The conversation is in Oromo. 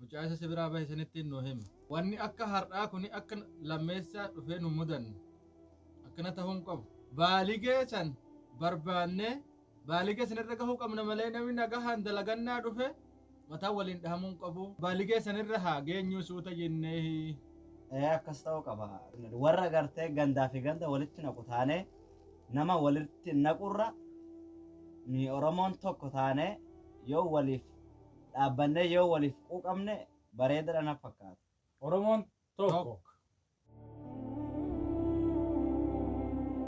Mucaa isa si biraa bahe sanittiin nuu himi. Wanni akka har'aa kuni akka lammeessaa dhufee nun mudanne. Akkana tahuu hin qabu. Baaligee san barbaannee baaligee san irra gahuu qabna malee namni nagahaan dalagannaa dhufe mataa waliin dhahamuu hin qabu. Baaligee san irra haa geenyuu suuta jenneehi. Ee akkas ta'uu qaba. Warra gartee gandaa fi ganda walitti naqu taanee nama walitti naqurra ni Oromoon tokko taanee yoo waliif dhaabbannee yoo waliif quuqamne bareedadha na fakkaata. Oromoon tokko.